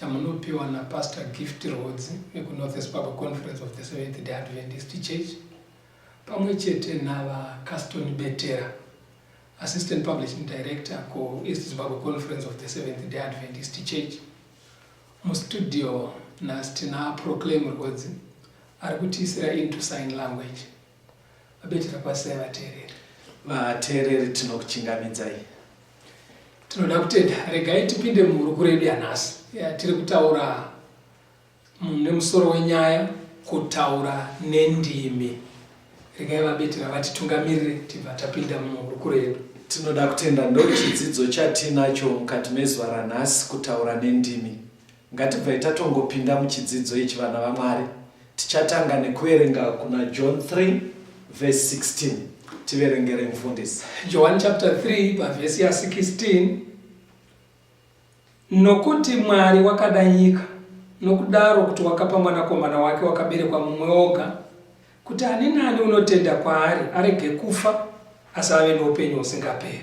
chamunopiwa naPastor Gift Rhodzi vekuNorth East Papa Conference of the Seventh Day Adventist Church pamwe chete naVaCaston Betera Assistant Publishing Director kuEast Zimbabwe Conference of the Seventh Day Adventist Church mustudio nhasi tina Proclaim Rhodzi ari kutiisira into sign language Vabetera kwasai vateereri. Vateereri tinokuchingamidzai. Tinoda kutenda. Regai tipinde muhurukuro yedu yanhasi yatiri kutaura nemusoro wenyaya kutaura nendimi. Regai vabetera vatitungamirire tibva tapinda muhurukuro yedu. Tinoda kutenda ndochidzidzo chatinacho mukati mezuva ranhasi kutaura nendimi. Ngatibvai tatongopinda muchidzidzo ichi vana vaMwari. Tichatanga nekuverenga kuna John 3 verse 16. Tiverengere mfundisi. John chapter 3 pavhesi ya 16 Nokuti Mwari wakada nyika nokudaro kuti wakapa mwanakomana wake wakaberekwa mumwe oga kuti ani nani unotenda kwaari arege kufa asi ave noupenyu husingaperi.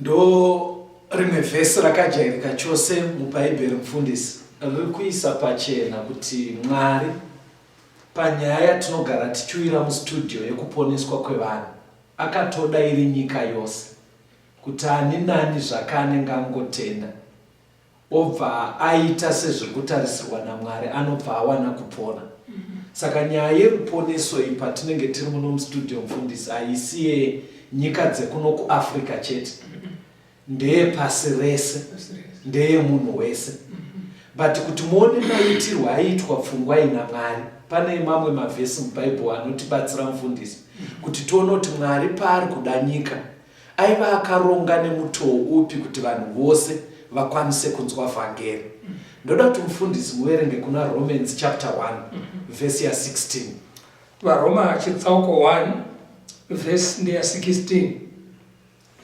Ndorimwe vhesi rakajairika chose mubhaibheri mufundisi riri kuisa pachena kuti Mwari panyaya yatinogara tichiuyira mustudio yekuponeswa kwevanhu akatoda iri nyika yose kuti ani nani zvake anenge angotenda obva aita sezvekutarisirwa naMwari anobva awana kupona. Mm -hmm. Saka nyaya yeruponeso iyi patinenge tiri muno mustudio mfundisi haisi yenyika dzekuno kuAfrica chete. Mm -hmm. Ndeye pasi rese. Ndeye munhu wese. Mm -hmm. But kuti muone maitirwo aiitwa pfungwa ina Mwari pane mamwe mavhesi mubhaibheri anotibatsira mfundisi mm-hmm. kuti tione kuti Mwari paari kuda nyika Aiva akaronga nemutoo upi kuti vanhu vose vakwanise kunzwa vhangeri? Ndoda kuti mufundisi muverenge kuna Romans chapter 1 verse ya 16. VaRoma chitsauko 1 verse ndeya 16.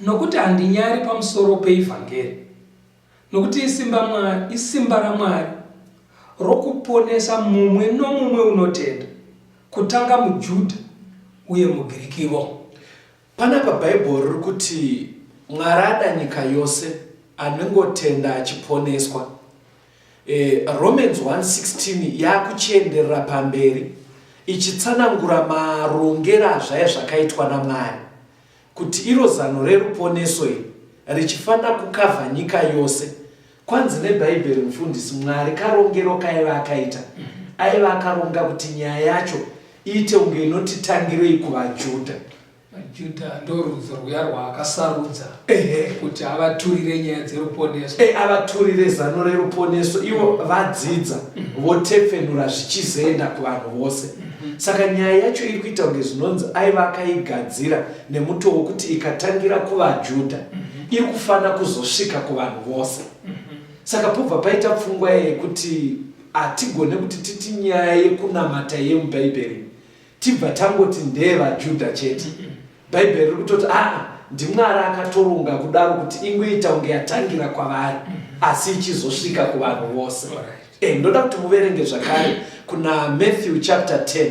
Nokuti handinyari pamusoro peivhangeri, nokuti isimba Mwari, isimba raMwari rokuponesa mumwe nomumwe unotenda, kutanga muJudha uye muGirikivo. Panapa Bible riri kuti Mwari ada nyika yose anengotenda achiponeswa. E, Romans 1:16 yakuchienderera pamberi ichitsanangura marongera azvaye zvakaitwa naMwari kuti iro zano reruponeso iri richifanira kukavha nyika yose Kwanzi nebhaibheri mufundisi Mwari karongero kaiva akaita aiva akaronga kuti nyaya yacho iite unge inoti tangirei kuvaJudha. VaJudha ndorudzo rwuya rwaakasarudza kuti avaturire nyaya dzeruponeso. E, avaturire zano reruponeso ivo vadzidza mhm. votepfenura zvichizoenda kuvanhu vose. Mhm. Saka nyaya yacho iri kuita unge zvinonzi aiva akaigadzira nemutoo wekuti ikatangira kuvaJudha. Mhm. iri kufanira kuzosvika kuvanhu vose mhm. saka pobva paita pfungwa yekuti hatigone kuti titi nyaya yekunamata yemubhaibheri tibva tangoti ndeevajuda chete mhm. bhaibheri riri kutoti aa ndimwari akatoronga kudaro kuti ingoita kunge yatangira kwavari mhm. asi ichizosvika kuvanhu vose eh, ndoda kuti muverenge zvakare kuna matthew chapter 10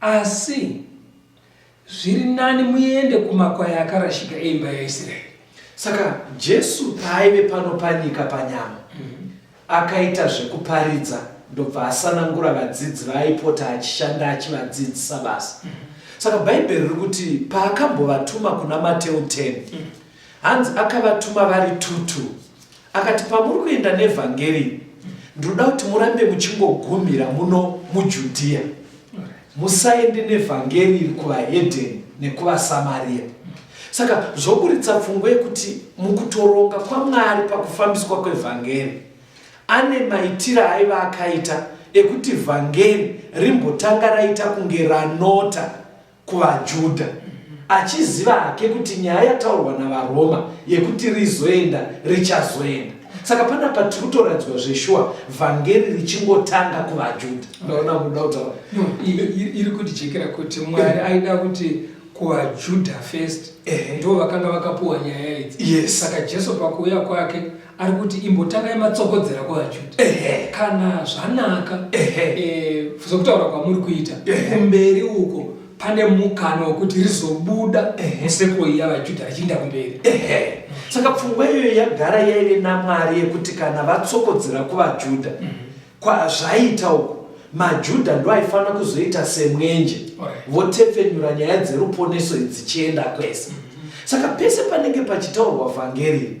Asi zviri nani muende kumakwai akarashika eimba yaIsraeri. Saka Jesu paaive pano panyika panyama, mm-hmm. akaita zvekuparidza ndobva asanangura vadzidzi vaaipota achishanda achivadzidzisa basa. Mm-hmm. Saka Bhaibheri riri kuti paakambovatuma kuna Mateu 10, mm-hmm. hanzi akavatuma vari tutu. Akati, Pamuri kuenda nevhangeri iri, ndinoda kuti murambe muchingogumhira muno muJudhiya. Musaende nevhangeri iri kuvahedheni nekuvaSamariya. Saka zvoburitsa pfungwa yekuti mukutoronga kwaMwari pakufambiswa kwevhangeri, ane maitiro aaiva akaita ekuti vhangeri rimbotanga raita kunge ranota kuvaJudha, achiziva hake kuti nyaya yataurwa navaRoma yekuti rizoenda richazoenda. Saka panapa tiri kutoratidzwa zveshuwa vhangeri richingotanga kuvaJudha. Ndaona kuda kutaura. No, i- i- iri kutijekera kuti mwari aida kuti kuvajuda first Ehe. ndo vakanga vakapuwa nyaya idzi Yes. saka jesu pakuuya kwake ari kuti imbotangai matsokodzera kwavachiti kana zvanaka eh, zvekutaura kwamuri kuita kumberi uko pane mukana wekuti rizobuda museko iya vajudha richiinda kumberi saka pfungwa iyoyo yagara yaive namwari yekuti kana vatsokodzera kuvajudha mhm. kwazvaita uko majudha ndo aifanira kuzoita semwenje votepfenyura nyaya dzeruponeso idzichienda kwese mhm. saka pese panenge pachitaurwa vhangeri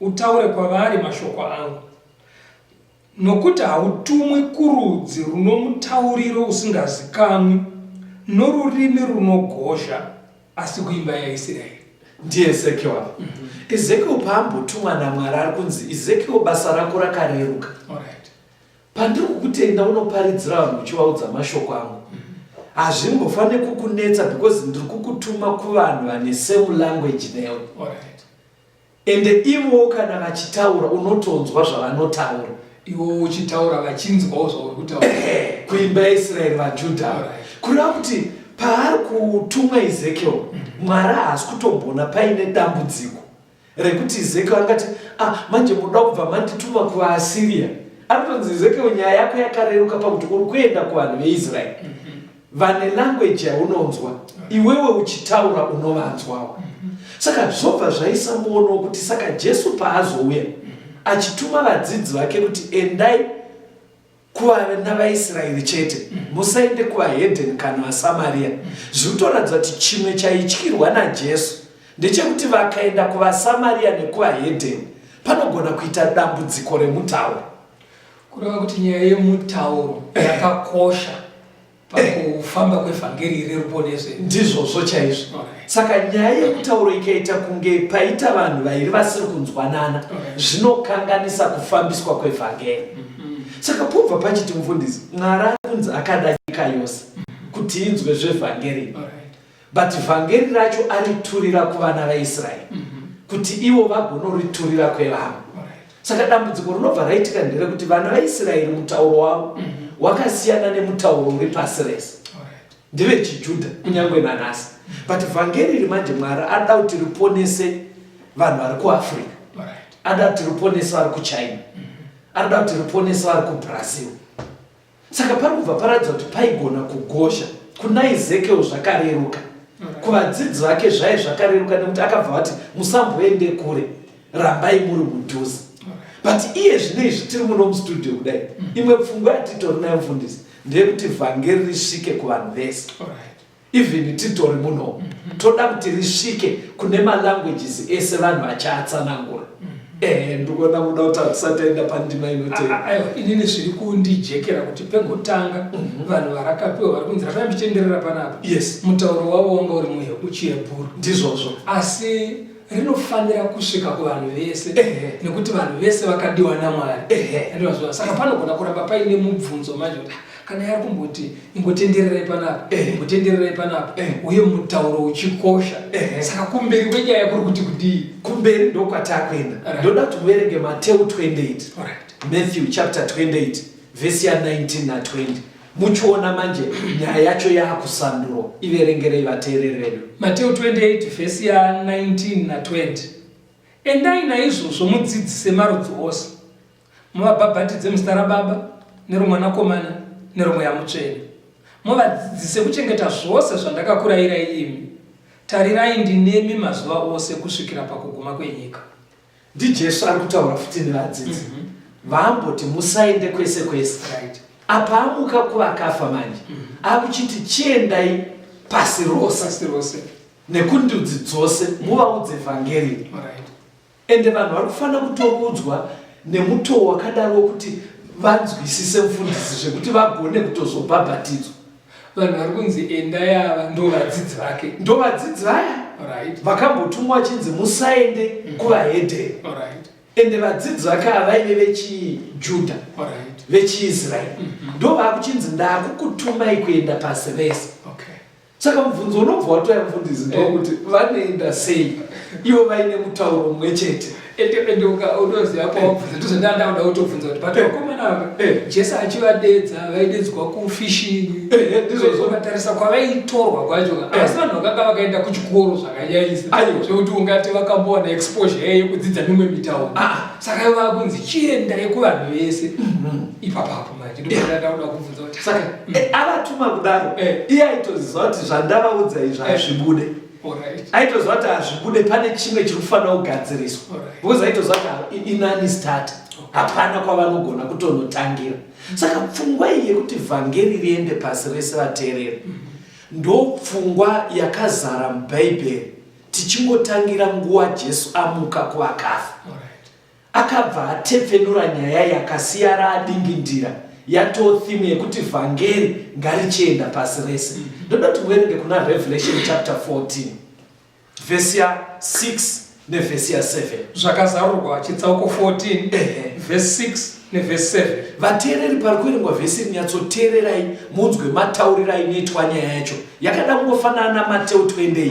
Utaure kwavari mashoko angu, nokuti hautumwi kurudzi runomutauriro usingazikamwi, norurimi runogozha, asi kuimba yaIsiraeri. NdiEzekiel ava. Mm -hmm. Ezekiel paambotumwa naMwari ari kunzi, Ezekiel, basa rako rakareruka. Alright. Pandiri kukutenda unoparidzira vanhu uchivaudza mashoko angu. Mm -hmm hazvimbofanire kukunetsa because ndiri kukutuma kuvanhu vane same language newe right. Ende ivo kana vachitaura unotonzwa zvavanotaura. Ivo uchitaura vachinzwawo zvauri kutaura. Kuimba yaIsraeri vaJudha. Kureva kuti paari kutumwa Ezekiel, mm. Mwari haasi kutomboona paine dambudziko rekuti Ezekiel angati ah, manje munoda kubva mandituma kuvaAsiria. Anotonzi Ezekiel nyaya yako yakareruka pakuti uri kuenda kuvanhu veIsraeri. Mm. vane language yaunonzwa iwewe uchitaura unovanzwawo saka zvobva zvaisamboonwo kuti saka jesu paazouya achituma vadzidzi vake kuti endai kuvana vaisraeri chete musaende kuvahedheni kana vasamariya zvikutoratidza kuti chimwe chaityirwa najesu ndechekuti vakaenda kuvasamariya nekuvahedheni panogona kuita dambudziko remutauro Kureva kuti nyaya yemutauro yakakosha pakufamba kwevhangeri reruponeso ndizvozvo chaizvo okay. saka nyaya yemutauro ikaita kunge paita vanhu vairi vasiri kunzwanana okay. zvinokanganisa kufambiswa kwevhangeri mm -hmm. saka pobva pachiti mufundisi mwari akunzi akada nyika yose mm -hmm. kuti inzwe zvevhangeri okay. but vhangeri racho ariturira kuvana vaisraeri mm -hmm. kuti ivo vagonoriturira kwevamwe saka dambudziko rinobva raitika nderekuti vana vaisraeri mutauro wavo mm -hmm. wakasiyana nemutauro uri pasi rese ndeve chijudha kunyange nanhasi mm -hmm. but vhangeri iri manje mwari anoda kuti riponese vanhu vari kuafrica anoda kuti riponese vari kuchina mm -hmm. anoda kuti riponese vari kubrazil saka pari kubva paratidza kuti paigona kugosha kuna ezekiel zvakareruka mm. kuvadzidzi vake zvaye zvakareruka nekuti akabva vati musamboende kure rambai muri mudhuze mm. but iye zvine izvi tiri muno mustudio kudai mm. imwe pfungwa yatitori nayo mfundisi ndeyekuti vhangeri risvike kuvanhu vese even titori muno mm -hmm. toda kuti risvike kune malanguages ese vanhu vachiatsanangura mm -hmm. ehe ndikuona kuda kuti hatisataenda pandima inoteiwa ah, ah, inini zviri kundijekera kuti pengotanga mm -hmm. vanhu varakapiwa vari kunzi rakai muchitenderera panapa yes mutauro wavo wanga uri muchiyebhuru ndizvozvo asi rinofanira kusvika kuvanhu vese nekuti vanhu vese vakadiwa namwari saka panogona kuramba paine mubvunzo manje kana yari kumboti ingotendererai panapa eh. ingotendererai panapa eh. uye mutauro uchikosha eh. saka kumberi kwenyaya kuri kuti kudii kumberi ndokwatakuenda right. ndoda kuti muverenge mateu 28 right. matthew chapter 28 vhesi ya 19 na 20 muchiona manje nyaya yacho yaakusanduro iverengerei vateereri vedu mateu 28 vhesi ya 19 na 20 endai naizvozvo mudzidzise marudzi ose Muvabhabhatidze muzita raBaba, neroMwanakomana, neroMweya Mutsvene. Muvadzidzise kuchengeta zvose zvandakakurayirai imi. Tarirai, ndinemi mazuva ose kusvikira pakuguma kwenyika. NdiJesu ari kutaura futi nevadzidzi vaamboti musaende kwese kwese. Apa amuka kuvakafa manje, akuchiti chiendai pasi rose nekundudzi dzose muvaudze vhangeri. Ende vanhu vari kufanira kutoudzwa nemutoo wakadaro wekuti vanzwisise mfundisi zvekuti vagone kutozobhabhatidzwa. Vanhu vari kunzi endai ava ndovadzidzi vake. Ndovadzidzi vaya Alright. vakambotumwa vachinzi musaende kuvahedheni. Alright. Ende vadzidzi vake ava vaive vechiJudha, Alright. vechiIsraeri. Ndovaakuchinzi ndakukutumai kuenda pasi rese. Okay. saka mubvunzo unobva watoya mufundisi ndokuti vanoenda sei ivo vaine mutauro mumwe chete unoziva kwawabvunza ndozondandakuda kutobvunza kuti but vakomana vaka jesu achivadedza vaidedzwa kufishing ndizozovatarisa kwavaitorwa kwacho asi vanhu vakanga vakaenda kuchikoro zvakanyaisa zvekuti ungati vakambowana exposure yaye yekudzidza mimwe mitauro saka ivo vakunzi chiendai kuvanhu vese ipapapo saka mm. eh, avatuma kudaro eh. iye aitoziva kuti zvandavaudza izvi eh. hazvibude aitoziva kuti hazvibude pane chimwe chiri kufanira kugadziriswa because aitoziva kuti inani start hapana kwavanogona kutonotangira mm. saka pfungwa iyi yekuti vhangeri riende pasi rese vateereri mm. ndopfungwa yakazara mubhaibheri tichingotangira nguva jesu amuka kuvakafa Akabva atepfenura nyaya iyi akasiyara adingindira yatoo theme yekuti vhangeri ngarichienda pasi rese. Ndoda kuti muverenge kuna Revelation chapter 14 vhesi ya 6 nevhesi ya 7. Zvakazarurwa chitsauko 14 Ehe. vhesi 6 nevhesi 7. Vateereri pari kuverengwa vhesi iri nyatsoteererai munzwe matauriro ainoitwa nyaya yacho. Yakada kungofanana naMateu 28.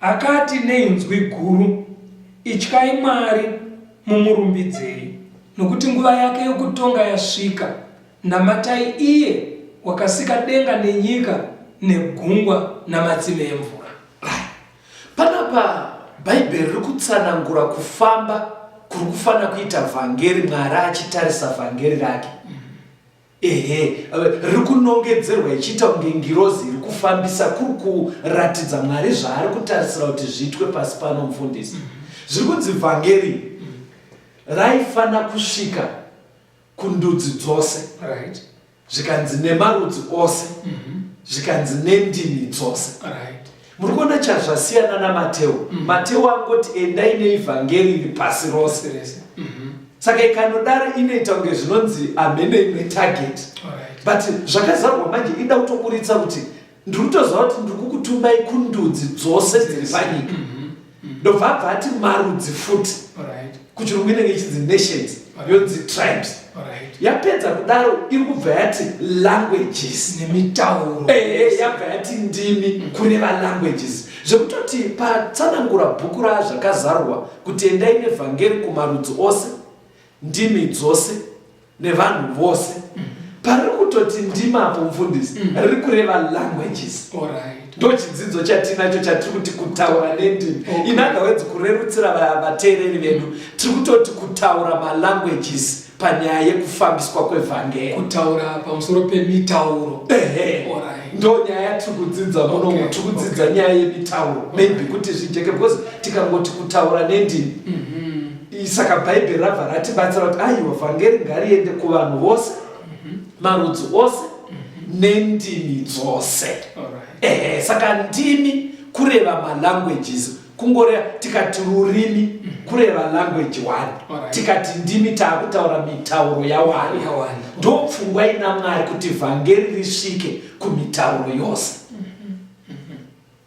Akati neinzwi guru, Ityai Mwari, mumurumbidzei, nokuti nguva yake yokutonga yasvika, namatai iye wakasika denga nenyika negungwa namatsime emvura. Right. Panapa Bhaibheri riri kutsanangura kufamba kuri kufanira kuita vhangeri, Mwari achitarisa vhangeri rake. ehe riri kunongedzerwa ichiita kunge ngirozi iri kufambisa kuri kuratidza mwari zvaari kutarisira kuti zviitwe pasi pano mufundisi zviri kunzi vhangeri raifana kusvika kundudzi dzose zvikanzi nemarudzi ose mhm. zvikanzi nendimi dzose Muri kuona chazvasiyana naMateo. Mm -hmm. Mateo angoti endai neivhangeri iri pasi rose rese. Mm -hmm. Saka ikanodaro inoita kunge zvinonzi hamene imwe target. Alright. But zvakazarwa manje ida kutokuritsa kuti ndiri kutoziva kuti ndiri kukutumai kundudzi dzose dziri panyika. Mm -hmm. mm. ndobva abva ati marudzi futi kuchirungu inenge ichinzi nations yonzi tribes yapedza kudaro iri kubva yati languages nemitauro ehe yabva yati ndimi mm. kureva languages zvekutoti patsanangura bhuku razvakazarwa kuti endai nevhangeri kumarudzi ose ndimi dzose nevanhu vose pariri kutoti ndimapo mfundisi mm. riri kureva languages ndo chidzidzo chatinacho chatiri kuti kutaura nendimi okay. inagawedzi kurerutsira vateereri vedu tiri kutoti kutaura malanguages panyaya yekufambiswa kwevhangeri kutaura pamusoro pemitauro ehe ndo nyaya yatiri kudzidza munomu okay. tiri kudzidza okay. nyaya yemitauro maybe okay. kuti zvijeke because tikangoti kutaura nendimi mm -hmm. Saka Bhaibheri rabva ratibatsira kuti aiwa vhangeri ngariende kuvanhu vose, mhm. marudzi ose mhm. nendimi dzose. Ehe, saka ndimi kureva malanguages kungoreva tikati rurimi mhm. kureva language one tikati ndimi taakutaura mitauro yawani ndopfungwa ina mwari kuti vhangeri risvike kumitauro yose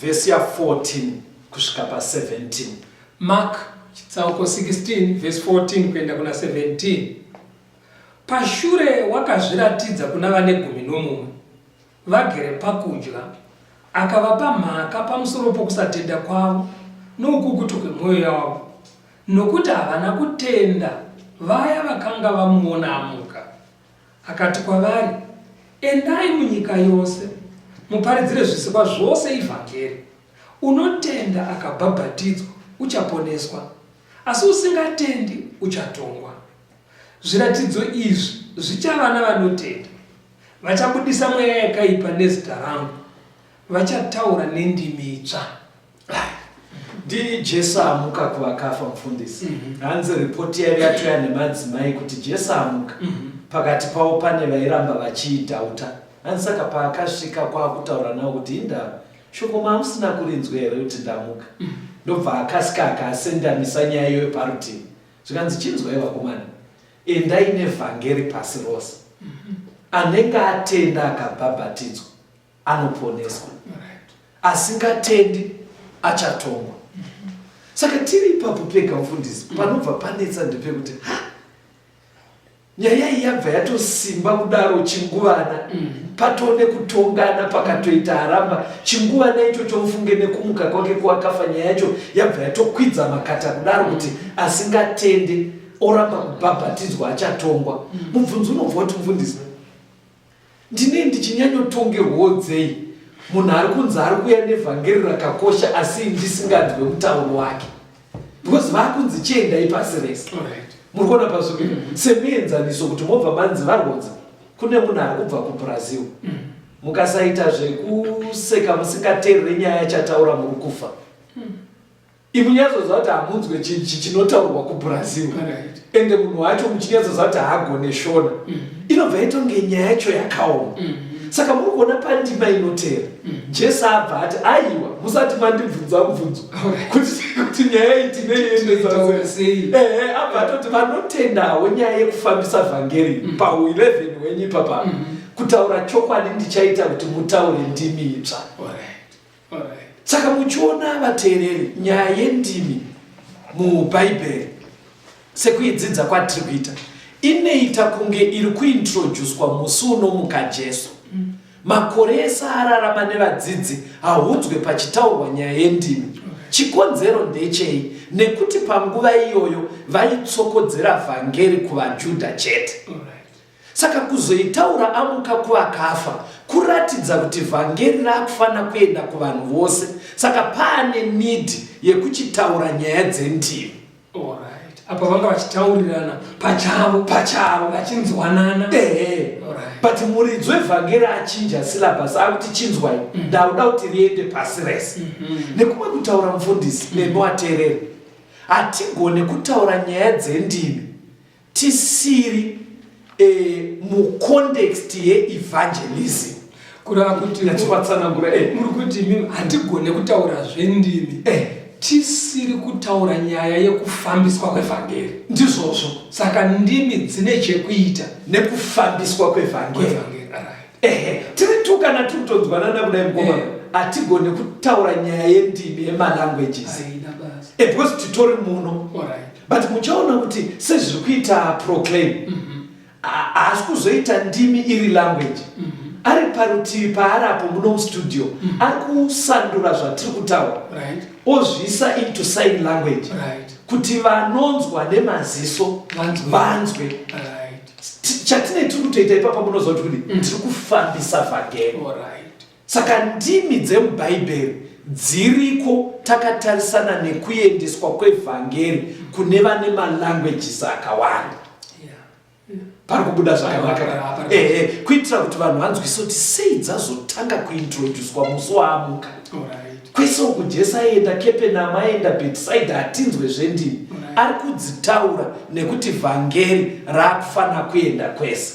vhesi ya 14 kusvika pa 17 mak chitsauko 16 vhesi 14 kuenda kuna 17 pashure wakazviratidza kuna vane gumi nomumwe vagere pakudya akavapa mhaka pamusoro pokusatenda kwavo noukukutu kwemwoyo yavo nokuti havana kutenda vaya vakanga vamuona amuka Akati kwavari, Endai munyika yose, muparidzire zvisikwa zvose ivhangeri. Unotenda akabhabhatidzwa uchaponeswa, asi usingatendi uchatongwa. Zviratidzo izvi zvichava navanotenda, Vachabudisa mweya yakaipa nezita rangu, vachataura nendimi itsva, Ndini Jesu amuka kuvakafa mufundisi. Mhm. Hanzi report yaive yatoya nemadzimai kuti Jesu amuka. Mhm. Pakati pavo pane vairamba vachiidhauta. Hanzi saka paakasvika kwakutaura navo kuti indava shoko mamusina kurinzwa here kuti ndamuka. Mhm. Ndobva akasika akasendamisa nyaya iyoyo parutivi. Zvikanzi chinzwai vakomana. Endai nevhangeri pasi rose. Anenge atenda akabhabhatidzwa. anoponeswa asingatendi achatongwa saka tiri ipapo pega mfundisi mm. panobva panetsa ndepekuti ha nyaya iyi yabva yatosimba kudaro chinguvana mm. patone kutongana pakatoita haramba chinguvana icho chomufunge nekumuka kwake kwakafa nyaya yacho yabva yatokwidza makata kudaro kuti mm. asingatende oramba kubhabhatidzwa achatongwa mubvunzi unobva kuti mfundisi Ndinei ndichinyanyotongerwawo dzei munhu ari kunzi ari kuuya nevhangeri rakakosha asi ndisinganzwe mutauro wake because vakunzi chiendai pasi rese muri kuona pazviri mm. semuenzaniso kuti mobva manzi varwodza kune munhu ari kubva kubrazil mm. mukasaita zvekuseka musingateerere nyaya chataura muri kufa mm. Imi munyatsoziva kuti hamunzwe chinhu chinotaurwa kuBrazil ende munhu wacho muchinyatsoziva kuti haagone shona mm. inobva yaita kunge nyaya yacho yakaoma mm. saka muri kuona pandima inotera mm. jesu abva ati aiwa musati mandibvunza mubvunzo kuti nyaya iyi tineiendesasei ehe abva atoti vanotendawo nyaya yekufambisa vhangeri pahu 11 wenyu ipapaa kutaura chokwadi ndichaita kuti mutaure ndimi itsva saka muchiona vateereri nyaya yendimi mubhaibheri sekuidzidza kwatiri kuita inoita kunge iri kuintroduswa musi unomuka jesu mm. makore ese ararama nevadzidzi haudzwe pachitaurwa nyaya yendimi chikonzero ndechei nekuti panguva iyoyo vaitsokodzera vhangeri kuvajudha chete Saka kuzoitaura amuka kuvakafa kuratidza kuti vhangeri rakufana kuenda kuvanhu vose saka paane need yekuchitaura nyaya dzendivi. Alright. Apa vanga vachitaurirana pachavo pachavo vachinzwanana. Ehe. Alright. But muridzo evhangeri achinja syllabus akuti chinzwai mm. ndauda kuti riende pasi rese. Mm -hmm. Nekumwe kutaura mufundisi mm -hmm. nemi wateereri hatigone kutaura nyaya dzendimi tisiri eh, mucontext yeevangelism kureva kuti nativatsanangura eh. muri kuti mimi hatigone kutaura zvendimi eh. tisiri kutaura nyaya yekufambiswa kwevhangeri ndizvozvo saka ndimi dzine chekuita nekufambiswa kwevhangeri ehe tiri tu kana tiri kutonzwanana kudai mukomana eh. hatigone kutaura nyaya yendimi yemalanguages eh, because titori muno but muchaona kuti sezviri kuita proclaim mhm. haasi kuzoita ndimi iri language mhm. ari parutivi paari apo muno mustudio mhm. ari kusandura zvatiri kutaura ozviisa into sign language kuti vanonzwa nemaziso vanzwe chatine tiri kutoita ipapa munoziva kuti kudii tiri kufambisa vhagero Saka ndimi dzemuBhaibheri dziriko takatarisana nekuendeswa kwevhangeri kune vane malanguages akawanda pari kubuda zvakanaka ehe kuitira kuti vanhu vanzwise kuti sei dzazotanga kuintroducwa musi waamuka kwese uku jesu aienda kepenama aienda betisaida hatinzwe zvendini ari kudzitaura nekuti vhangeri raakufanira kuenda kwese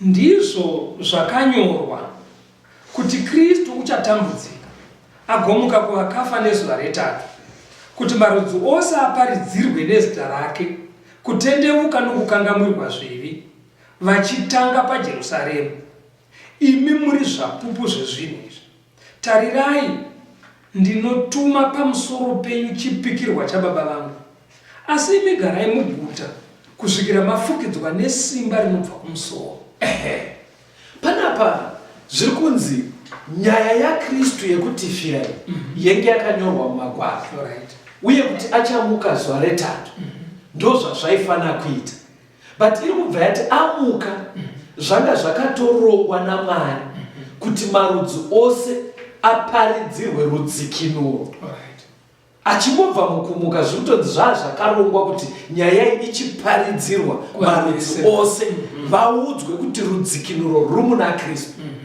Ndizvo zvakanyorwa, kuti Kristu uchatambudzika, agomuka kuvakafa nezuva retatu, kuti marudzi ose aparidzirwe nezita rake kutendevuka nokukangamwirwa zvivi, vachitanga paJerusaremu. Imi muri zvapupu zvezvinhu izvi. Tarirai, ndinotuma pamusoro penyu chipikirwa chababa vangu, asi imi garai muguta kusvikira mafukidzwa nesimba rinobva kumusoro. Ehe. Panapa zviri kunzi nyaya yaKristu yekutifira iyi mm -hmm. yenge yakanyorwa mumagwaro right. uye kuti achamuka zuva retatu mm -hmm. ndozvazvaifanira kuita but iri kubva yati amuka zvanga zvakatorongwa namwari kuti marudzi ose aparidzirwe rudzikinuro achingobva mukumuka zviri kutonzi zvaa zvakarongwa kuti nyaya iyi ichiparidzirwa marudzi ose vaudzwe kuti rudzikinuro ruri muna kristu mm-hmm.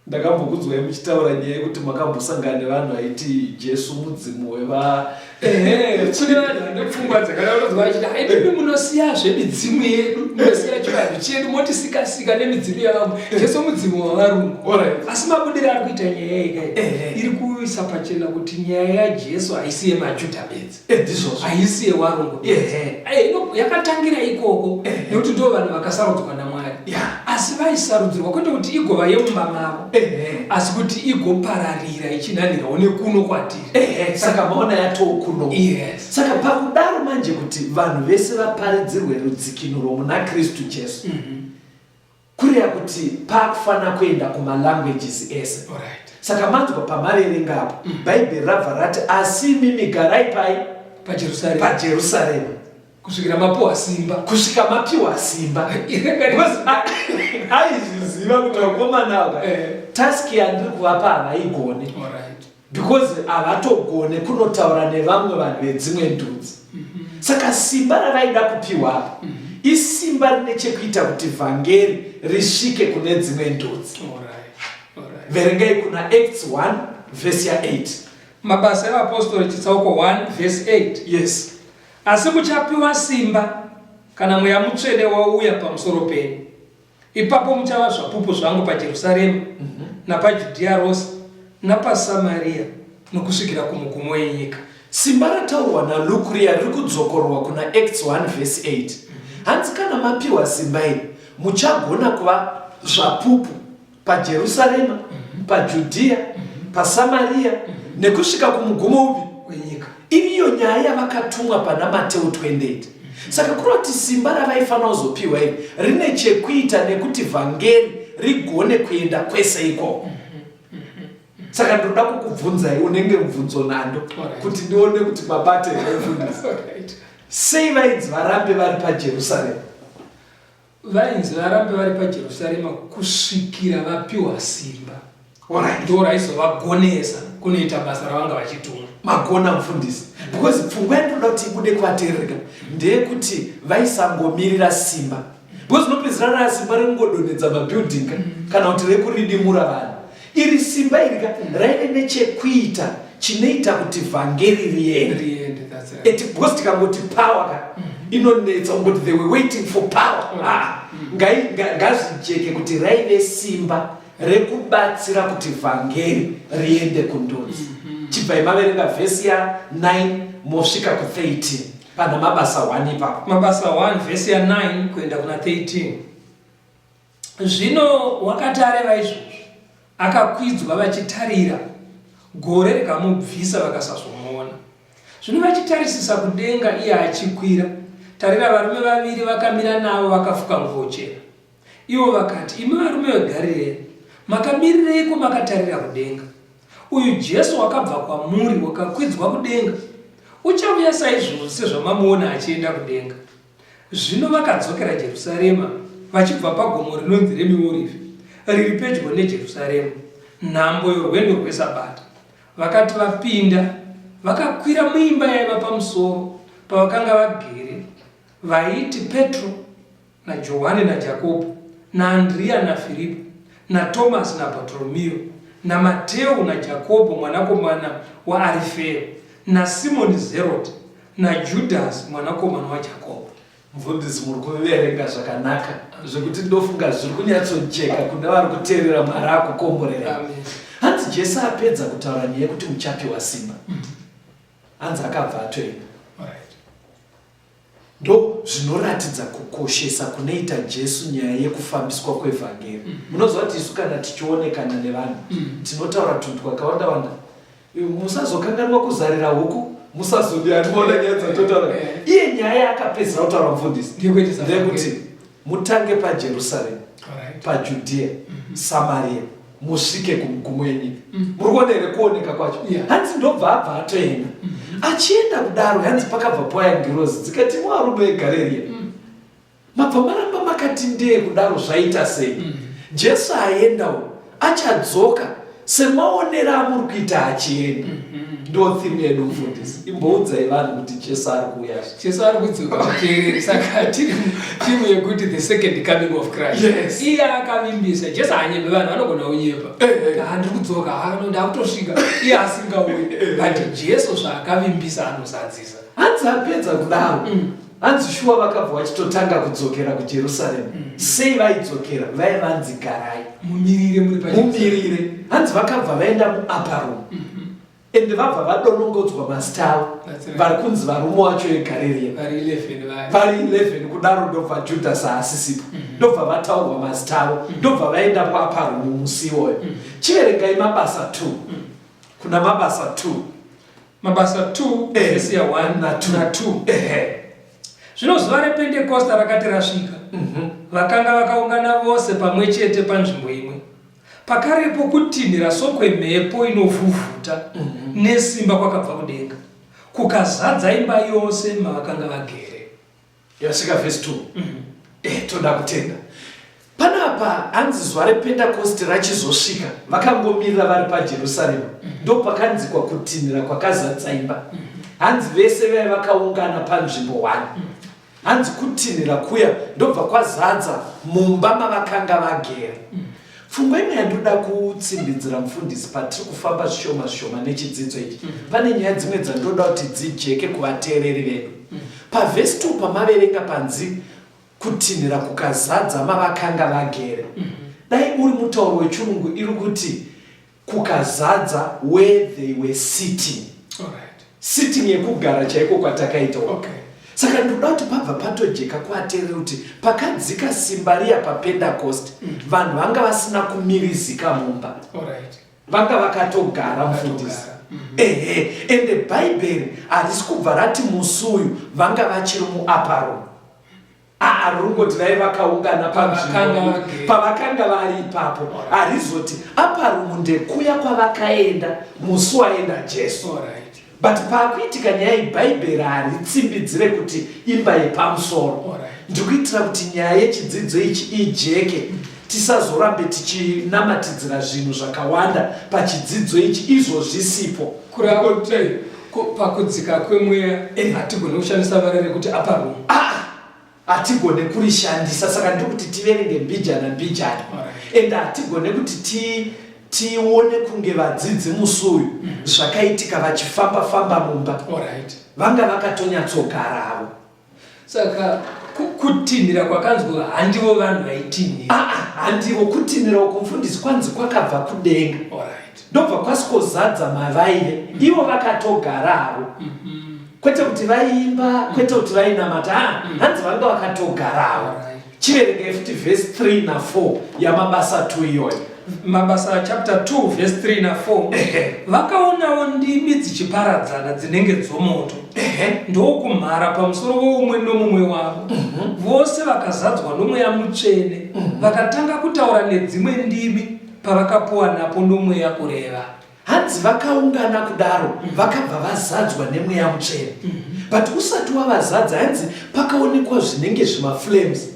ndakambokudzwai muchitaura nyaya yekuti makambosangana nevanhu vaiti jesu mudzimu weva ehe kune vanhu vane pfungwa dzakadaurodzwa vachiti haidimi munosiya zvemidzimu yedu munosiya chivanhu chedu motisikasika nemidzimu yavamwe jesu mudzimu wavarungu asi mabudiro ari kuita nyaya yeka iri kuisa pachena kuti nyaya yajesu haisi yemajudha bedzi Edizvozvo. Haisi yewarungu. Ehe. Eh, ino yakatangira ikoko. Ehe. Nekuti ndivo vanhu vakasarudzwa naMwari. Yeah. Asi vaisarudzirwa kwete kuti igova yemumba mavo. Ehe. Asi kuti igopararira ichinhanhirawo nekuno kwatiri. Ehe. Saka maona yatoo kuno. Yes. Saka pakudaro manje kuti vanhu vese vaparidzirwe rudzikinuro muna Kristu Jesu. Mhm. Kureva kuti pakufanira kuenda kuma languages ese. Alright. Saka manzwa pamaverenga apa. Mm. Bhaibheri rabva rati asi imimi garai pai? PaJerusarema. PaJerusarema. Kusvikira mapiwa simba. Kusvika mapiwa simba. Aizviziva kuti vakomana ava eh. task yandiri kuvapa havaigone. Alright. because havatogone kunotaura nevamwe vanhu vedzimwe ndudzi mm-hmm. saka simba ravaida kupiwa apa mm-hmm. isimba rine chekuita kuti vhangeri risvike kune dzimwe ndudzi verengai kuna acts 1 vhesi ya 8 mabasa evapostori chitsauko 1 vhesi 8 yes asi muchapiwa simba kana mweya mutsvene wauya pamusoro penyu Ipapo muchava zvapupu zvangu paJerusarema, napaJudhiya rose, napaSamariya, nokusvikira kumugumo enyika. Simba rataurwa naLuke riya riri kudzokororwa kuna Acts 1 vhesi 8. Hanzi kana mapiwa simba iri, muchagona kuva zvapupu paJerusarema, paJudhiya, paSamariya, nekusvika kumugumo upi? Wenyika. Iriyo nyaya yavakatumwa pana Mateo 28. Saka kureva kuti simba ravaifanira kuzopiwa iri rine chekuita nekuti vhangeri rigone kuenda kwese ikoko. Saka ndinoda kukubvunzai unenge mubvunzo nando kuti ndione kuti mabate here mfundisi. Sei vainzi varambe vari paJerusaremu? Vainzi varambe vari paJerusarema kusvikira vapiwa simba ndo raizovagonesa kunoita basa ravanga vachitumwa magona mfundisi because pfungwa yandinoda kuti ibude kuvateerereka ndeyekuti vaisangomirira simba because unopedzisira raasimba rekungodonhedza mabuilding kana kuti rekuridimura vanhu Iri simba iri ka raive nechekuita chinoita kuti vhangeri riende eti because tikangoti power ka mm. inonetsa ungoti they were waiting for power mm. ah, mm. ngazvijeke kuti raive simba rekubatsira kuti vhangeri riende kundudzi mm-hmm. chibvai maverenga vhesi ya 9 mosvika ku13 pana mabasa 1 ipapo mabasa 1 vhesi ya 9 kuenda kuna 13 Zvino wakati areva izvozvo, akakwidzwa vachitarira, gore rikamubvisa vakasazomuona. Zvino vachitarisisa kudenga iye achikwira, tarira, varume vaviri vakamira navo vakafuka nguvo chena. Ivo vakati, Imi varume veGarireya, makamirireiko makatarira kudenga? Uyu Jesu wakabva kwamuri, wakakwidzwa kudenga, uchauya saizvozvo sezvamamuona achienda kudenga. Zvino vakadzokera Jerusarema vachibva pagomo rinonzi reMiorivhi, riri pedyo neJerusarema, nhambo yorwendo rweSabata. Vakati vapinda, vakakwira muimba yaiva pamusoro pavakanga vagere, vaiti Petro naJohani naJakobho naAndriya naFiripo naTomasi naBhatoromiyo naMateu naJakobho mwanakomana waArifeo naSimoni Zeroti naJudhasi mwanakomana waJakobo. Mfundisi muri kuverenga zvakanaka zvekuti ndofunga zviri kunyatsojeka kune vari kuteerera mwari akukomborera Amen. hanzi jesu apedza kutaura nyaya yekuti muchapiwa simba hanzi akabva atoenda Alright. ndo zvinoratidza kukoshesa kunoita jesu nyaya yekufambiswa kwevhangeri munoziva kuti isu kana tichionekana nevanhu tinotaura tunhu twakawanda wanda musazokanganwa kuzarira huku musazodiandiona nyaya dzatotaura iye nyaya yaakapedzisa kutaura mufundisi ndeyekuti mutange pajerusaremu pajudhiya mhm. samariya musvike kumugumo yenyika mhm. muri kuona here kuoneka kwacho hanzi ndobva abva atoenda mhm. achienda kudaro hanzi pakabva poya ngirozi dzikati mwarudo egareriya Mabva maramba makati ndee kudaro zvaita sei? Mm. Jesu aendawo achadzoka semaonero amuri kuita achienda. Mm -hmm ndo theme yedu mfundisi imboudzai vanhu kuti jesu ari kuuya jesu ari kudzoka kuteereri saka tiri theme yekuti the second coming of christ yes. iye akavimbisa jesu haanyebe vanhu vanogona kunyeba eh, eh. handiri kudzoka ndakutosvika iye asingauyi eh, but jesu zvaakavimbisa anozadzisa hanzi apedza kudaro mm. Hanzi shuwa vakabva vachitotanga kudzokera kuJerusaremu. Mm. Sei vaidzokera? Vaive vanzi garai. Mumirire muri paJerusaremu. Mumirire. Hanzi vakabva vaenda muAparum. Mm -hmm. Ende vabva vadonongodzwa mazita avo. Right. Vari kunzi varume wacho veGarirea. Vari 11 vaya. Vari 11 kudaro ndobva Judhasi haasisipo. Mm -hmm. Ndobva vataurwa mazita avo. Mm -hmm. Ndobva vaenda kuAparum musi iwoyo. Mm -hmm. Chiverengai mabasa 2. Mm -hmm. Kuna mabasa 2. Mabasa 2 eh, vhesi ya 1 na 2 ehe zvino zuva repentekosta rakati rasvika mhm. vakanga mm -hmm. vakaungana vose pamwe chete panzvimbo imwe pakarepo kutinhira sokwemhepo inovhuvhuta mm -hmm. nesimba kwakabva kudenga kukazadza imba yose mavakanga vagere Yasvika verse 2. Mm -hmm. Eh, toda kutenda. Panapa hanzi zuva rePentekosti rachizosvika vakangomirira vari paJerusarema. Mm -hmm. Ndopakanzi kwakutinhira kwakazadza imba. Mm -hmm hanzi vese vaya vakaungana panzvimbo one hanzi kutinhira kuya ndobva kwazadza mumba mavakanga vagera Pfungwa imwe yandinoda kutsindidzira mufundisi patiri kufamba zvishoma zvishoma nechidzidzo ichi mm. pane nyaya dzimwe dzandinoda kuti dzijeke kuvateereri vedu mm. pavhesi 2 pamaverenga panzi kutinhira kukazadza mavakanga vagere mm-hmm. dai uri mutauro wechirungu iri kuti kukazadza where they were sitting Alright. sitting yekugara chaiko kwatakaita uko. Okay. saka ndinoda kuti pabva patojeka kuaterere kuti pakadzika simba riya papendacost vanhu vanga vasina kumirizika mumba Alright. vanga vakatogara mufundisi ehe ende bhaibheri harisi kubva rati musi uyu vanga vachiri muaparom Aa rungo tivai vakaungana panzvimbo pavakanga vari ipapo harizoti apa rumu ndekuya kwavakaenda musi waenda jesu but paakuitika nyaya iyi bhaibheri haritsimbidzire kuti imba yepamusoro ndikuitira kuti nyaya yechidzidzo ichi ijeke Tisazorambe tichinamatidzira zvinhu zvakawanda pachidzidzo ichi izvo zvisipo. Kurako tei ko pakudzika kwemweya Eh. hatigone kushandisa vara rekuti upper room. Ah! hatigone kurishandisa saka ndiri kuti tiverenge mbijana mbijana Alright. and hatigone kuti ti tione kunge vadzidzi musi uyu zvakaitika vachifamba famba mumba Alright. vanga vakatonyatsogara avo Saka kutinhira kwakanzwa handivo vanhu vaitinhira. Ah, ah, handivo kutinhira uko mfundisi kwanzi kwakabva kudenga. Alright. Ndobva kwasikozadza mavaive. Mm. Ivo vakatogara havo. Mm -hmm. Kwete kuti vaiimba, mm. kwete kuti vainamata. Ah, mm. Hanzi vanga vakatogara havo. Alright. Chiverenge futi verse 3 na 4 yamabasa 2 iyoyo. Mabasa chapter 2 verse 3 na 4 vakaonawo ndimi dzichiparadzana dzinenge dzomoto ndokumhara pamusoro weumwe nomumwe wavo mhm. vose vakazadzwa nomweya mutsvene mhm. vakatanga kutaura nedzimwe ndimi pavakapuwa napo nomweya kureva Hanzi vakaungana kudaro vakabva vazadzwa nemweya mutsvene mhm. but usati wavazadza hanzi pakaonekwa zvinenge zvimaflames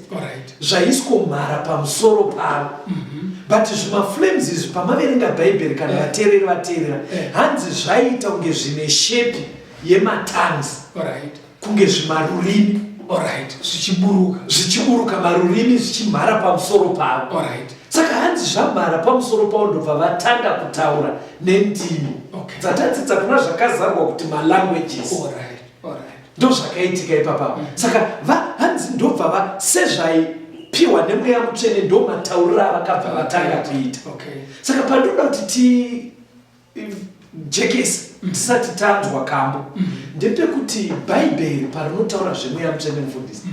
zvaiswa mhara pamusoro pavo mhm. but zvimaflames izvi pamaverenga bhaibheri kana eh. vateereri vateerera eh. hanzi zvaiita kunge zvine shepi yematanzi kunge zvimarurimi alright zvichiburuka zvichiburuka marurimi zvichimhara pamusoro pavo alright saka hanzi zvamhara pamusoro pavo ndobva vatanga kutaura nendimi okay. dzatadzidza kuna zvakazarwa kuti malanguages alright alright ndozvakaitika ipapa mm -hmm. saka va hanzi ndobva va sezvai piwa nemweya mutsvene ndomataurira avakabva vatanga kuita okay. saka pandinoda kuti ti jekesi tisati tanzwa kambo ndepekuti bhaibheri parinotaura zvemweya mutsvene mufundisi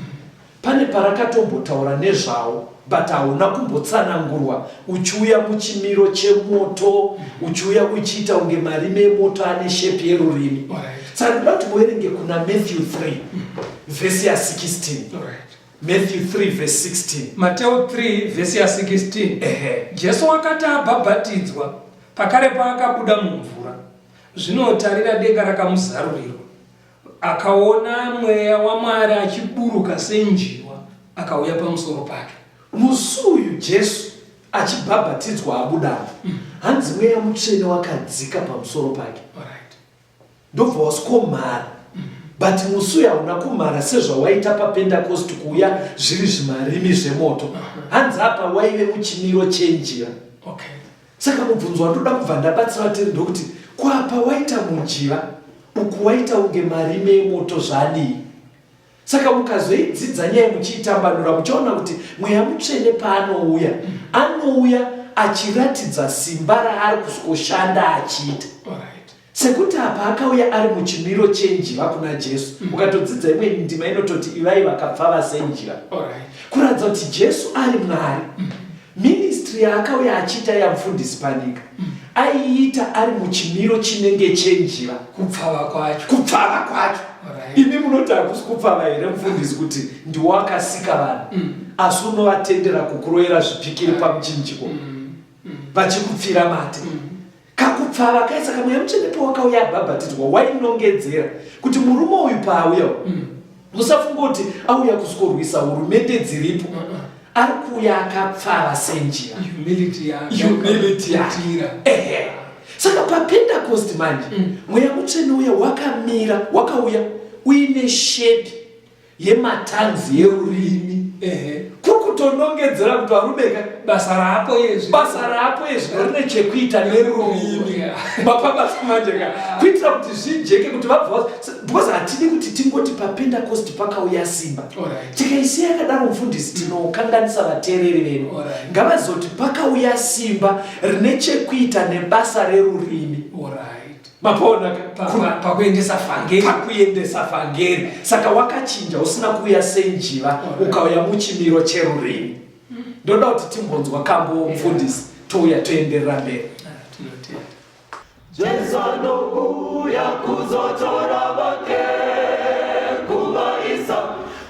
pane parakatombotaura nezvawo but hauna kumbotsanangurwa uchiuya muchimiro chemoto uchiuya uchiita kunge marime emoto ane shepi yerurimi saka ndoda kuti muverenge kuna matthew 3 vhesi ya 16 Matthew 3 verse 16. Mateo 3 vhesi ya 16 Ehe. Jesu wakati abhabhatidzwa pakare paakabuda mumvura zvino tarira denga rakamuzarurirwa akaona mweya waMwari achiburuka senjiwa akauya pamusoro pake. Musi uyu Jesu achibhabhatidzwa abuda apa hanzi mweya mutsvene wakadzika pamusoro pake. Alright. ndobva wasikomara but musi uya hauna kumara sezvawaita papendakosti kuuya zviri zvimarimi zvemoto hanzi apa waive muchimiro chenjira okay. saka mubvunzo wandoda kubva ndabatsira vateri ndokuti kwapa waita mujiva uku waita unge marimi emoto zvadii Saka mukazoidzidza nyaya muchiitambanura muchaona kuti mweya mutsvene paanouya anouya achiratidza simba raari kuzoshanda achiita sekuti apa akauya ari muchimiro chenjiva kuna jesu mm. ukatodzidza imwe ndima inototi ivai vakapfava senjiva kuratidza kuti jesu ari mwari mm. Ministry yaakauya achiita yamfundisi Panika aiita ari muchimiro chinenge chenjiva kupfava kwacho kupfava kwacho right. imi munoti hakusi kupfava here mfundisi kuti ndiwo akasika vanhu mm. asi unovatendera kukuroyera zvipikiri pamuchinjiko mm. mm. vachikupfira mate mm. kakupfava kaye saka mweya mutsvene pawakauya abhabhatidzwa wainongedzera kuti murume uyu paauya mm. musafunga kuti auya kusikorwisa hurumende dziripo mm -mm. ari kuuya akapfava senjira saka papentekosti manje mm. mweya mutsvene uya wakamira wakauya uine shepi yematanzi yerurimi ehe kuri kutonongedzera kuti varume ka basa raapo yezvi basa raapo yezvi rine chekuita nerurimi mapabasa manje ka kuitira kuti zvijeke kuti vabva because hatidi kuti tingoti papentecost pakauya simba tikaisiya yakadaro mufundisi tinokanganisa vateereri vedu ngavazoti pakauya simba rine chekuita nebasa rerurimi Alright. mapona pakuendesa fangeri pakuendesa fangeri saka wakachinja usina kuuya senjiva ukauya muchimiro cherurimi ndoda kuti timbonzwa kambo mfundisi touya toenderera mberi jesu anouya kuzotora vake kuvaisa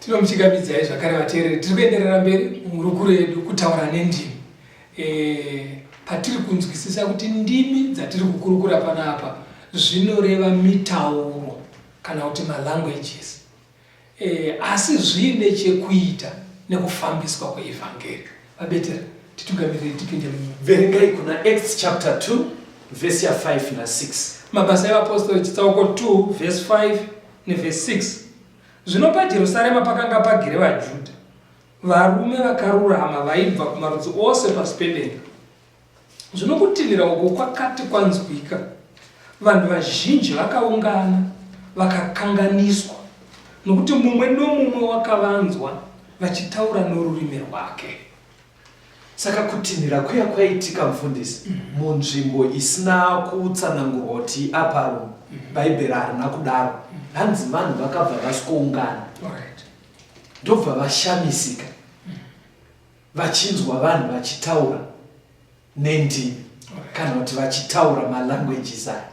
tinomuchigamidzai zvakare vateereri tiri kuenderera mberi muhurukuro yedu kutaura nendimi e, patiri kunzwisisa kuti ndimi dzatiri kukurukura pano apa zvinoreva mitauro kana kuti malanguages Eh, asi zviine chekuita nekufambiswa kweEvhangeri. VaBeteri, titungamirirei tipinde mu. Verengai kuna Acts chapter 2 verse ya 5 na 6. Mabasa evapostori chitsauko 2 verse 5 neverse 6. Zvino paJerusarema pakanga pagere vaJudha, varume vakarurama vaibva kumarudzi ose pasi pedenga. Zvino kutinhira uku kwakati kwanzwika, vanhu vazhinji vakaungana vakakanganiswa, nokuti mumwe nomumwe wakavanzwa vachitaura norurimi rwake. Saka kutinhira kuya kwaitika mfundisi mm -hmm. munzvimbo isina kutsanangurwa kuti aparo mm -hmm. bhaibheri harina kudaro mm -hmm. hanzi vanhu vakabva vasikoungana ndobva right. vashamisika mm -hmm. vachinzwa vanhu vachitaura nendimi kana kuti vachitaura malanguages aya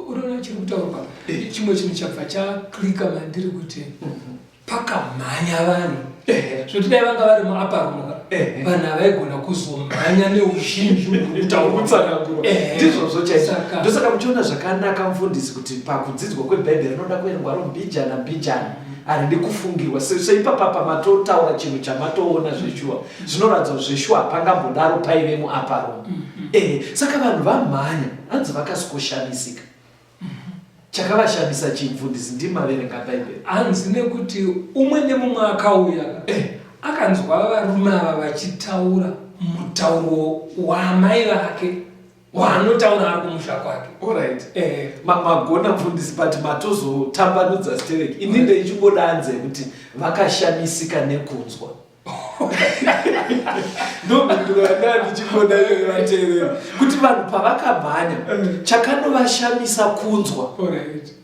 unoona chiri kutaurwa eh. chimwe chinhu chabva chaklika mandiri kuti mhm. pakamhanya vanhu eh. zvoti dai vanga vari muaparumu eh. vanhu avaigona kuzomhanya neuzhinji utaurutsanangurondizvozvo chaizvo ndosaka muchiona zvakanaka mfundisi kuti pakudzidzwa kwebhaibheri rinoda kuerengwa rombijana mbijana haridi kufungirwa sezvo ipapapa matotaura chinhu chamatoona zveshuwa zvinoratidza kuti zveshuwa hapangambodaro paive muaparo mm-hmm. eh, saka vanhu vamhanya hanzi vakasikoshamisika mm-hmm. chakavashamisa chimfundisi ndimaverenga bhaibheri hanzi nekuti umwe nemumwe akauya eh. akanzwa varume ava vachitaura mutauro waamai vake waanotaura ari kumusha kwake orit eh. magona mfundisi but matozotambanudza sterek ini ndeichimbodanze kuti vakashamisika nekunzwa ndomhinduro yanga ndichimboda iyoyo vateerera kuti vanhu pavakamhanya eh. chakanovashamisa kunzwa orit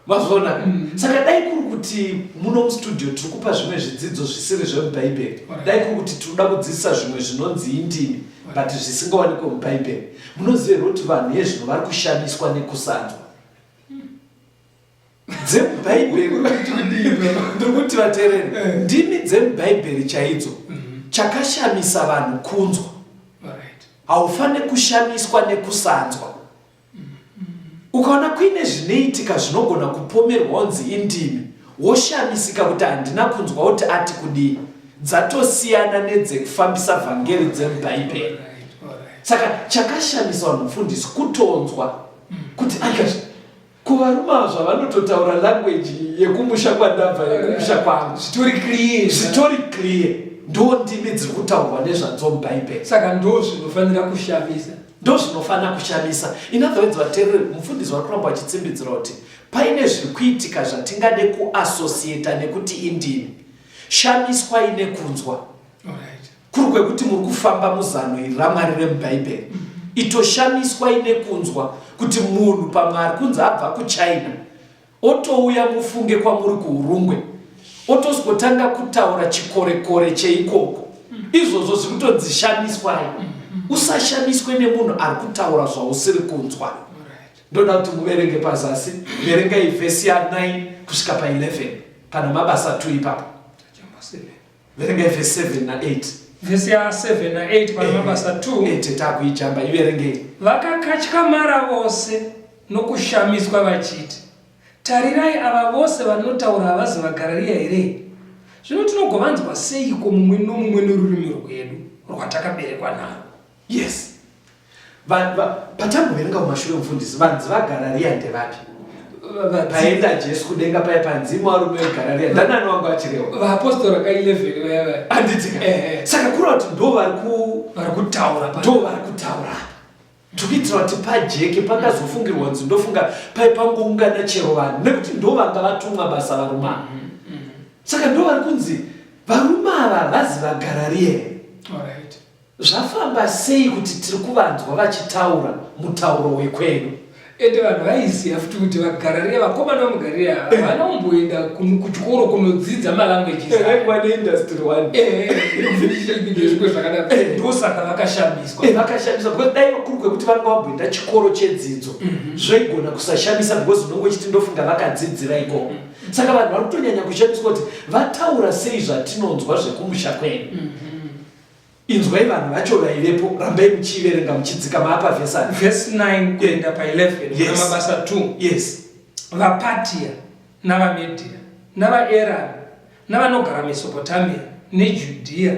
mazvona mm. saka dai kuri kuti muno mustudio tiri kupa zvimwe zvidzidzo zvisiri zvemubhaibheri dai kuri kuti tinoda kudzidzisa zvimwe zvinonzi indimi but zvisingawanikwe mubhaibheri munoziva here kuti vanhu hezvino vari kushamiswa nekusanzwa dzemubhaibheri ndiri kuti vatereri eh. ndimi dzemubhaibheri chaidzo mm-hmm. chakashamisa vanhu kunzwa haufanire kushamiswa nekusanzwa Ukaona kuine zvinoitika zvinogona kupomerwa onzi indimi, woshamisika kuti handina kunzwa kuti ati kudii, dzatosiyana nedzekufambisa vhangeri dzemuBhaibheri. Saka chakashamisa vanhu mufundisi kutonzwa kuti akazvi kuvarume ava zvavanototaura language yekumusha kwandabva yekumusha kwangu zvitori clear zvitori clear ndo ndimi dziri kutaurwa nezvadzo mubhaibheri saka ndo zvinofanira kushamisa Ndozvinofanira kushamisa. In other words, vateereri, mufundisi vari kuramba vachitsimbidzira kuti paine zviri kuitika zvatingade kuasosiyeta nekuti indini. Shamiswai nekunzwa. Kuri kwekuti muri kufamba muzano iri raMwari remuBhaibheri. Mm -hmm. Itoshamiswai nekunzwa kuti munhu pamwe ari kunzi abva kuchina otouya mufunge kwamuri kuurungwe otozotanga kutaura chikorekore cheikoko mm. izvozvo zvikutonzi shamiswai mm. usashamiswe nemunhu ari kutaura zvausiri kunzwa ndoda kuti muverenge pazasi verengai vhesi ya 9 kusvika pa 11 kana mabasa 2 ipapo Verengai verse 7 na 8. Vhesi ya 7 na 8 pana mabasa 2. Eh, tete akuijamba iverengei. Vakakatyamara vose nokushamiswa vachiti, Tarirai ava vose vanotaura havazi vaGarariya here? Zvino tinogovanzwa seiko mumwe nomumwe norurimi rwedu rwatakaberekwa narwo? Yes. Vanhu va patamboverenga kumashure mufundisi vanzi vagara riya ndevapi? Paenda Jesu kudenga paye panzi mwarume vegara riya ndanani wangu achirewa. Vaapostora ka 11 vaya vaya. Anditika. Eh, eh. Saka kura kuti ndo vari ku vari kutaura pa. Ndo vari kutaura. Tukiitira kuti pajeke pakazofungirwa kunzi ndofunga paye pangoungana chero vanhu nekuti ndo vanga vatumwa basa varume. Mm -hmm. Saka ndo vari kunzi varume ava vazi vagara riya. All right. Zvafamba sei kuti tiri kuvanzwa vachitaura mutauro wekwedu? Ende vanhu vaiziva futi kuti vaGarariya, vakomana vemuGarariya ava, Eh. havana kumboenda kun- kuchikoro kunodzidza malanguages aya. Vaikuva neindustry one. Eh, ndezviko zvakadaro Eh. ndosaka vakashamiswa Eh, vakashamisa because dai kuri kwekuti vanga vamboenda chikoro chedzidzo zvaigona kusashamisa because unenge uchiti ndofunga vakadzidzira ikoko saka vanhu vari kutonyanya kushamiswa kuti vataura sei zvatinonzwa zvekumusha kwedu Inzwai vanhu vacho vaivepo, rambai muchiiverenga muchidzikama apa vhesi aya. Vhesi 9 kuenda pa11 kuna Mabasa 2. Yes. VaPatia navaMedhia navaErami navanogara Mesopotamia neJudhia